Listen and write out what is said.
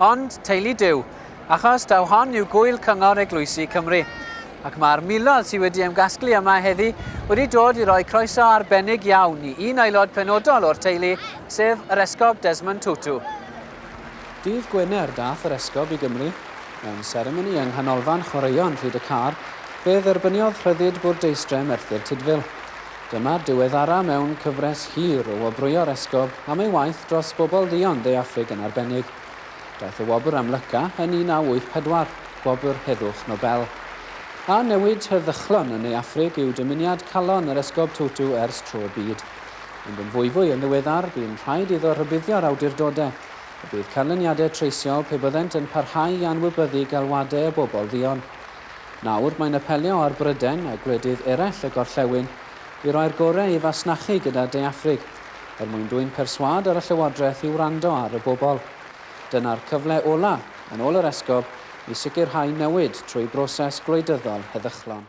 Ond, teulu Duw, achos taw hon yw Gŵyl Cyngor Eglwysi Cymru, ac mae'r miloedd sydd wedi ymgasglu yma heddi wedi dod i roi croeso arbennig iawn i un aelod penodol o'r teulu, sef yr Esgob Desmond Tutu. Dydd Gwener daeth yr Esgob i Gymru. Mewn seremoni yng Nghanolfan Chwaraeon Rhyd-y-Car, fe dderbyniodd Rhyddid Bwrdeistref Merthyr Tudful. Dyma'r diweddara mewn cyfres hir o wobrwyo'r Esgob am ei waith dros bobl dduon De Affrig yn arbennig. Daeth y wobr am Lyca yn 1984, gwobr heddwch Nobel. A newid heddychlon yn Ne Affrig yw dymuniad calon yr Esgob Tutu ers tro byd. Ond yn fwyfwy yn ddiweddar, bu'n rhaid iddo rhybuddio'r awdurdodau y bydd canlyniadau treisiol pe byddent yn parhau i anwybyddu galwadau y bobl dduon. Nawr, mae'n apelio ar Brydain a gwledydd eraill y gorllewin i roi'r gorau i fasnachu gyda De Affrig, er mwyn dwyn perswâd ar y llywodraeth i wrando ar y bobl. Dyna'r cyfle ola', yn ôl yr esgob, i sicrhau newid trwy broses gwleidyddol heddychlon.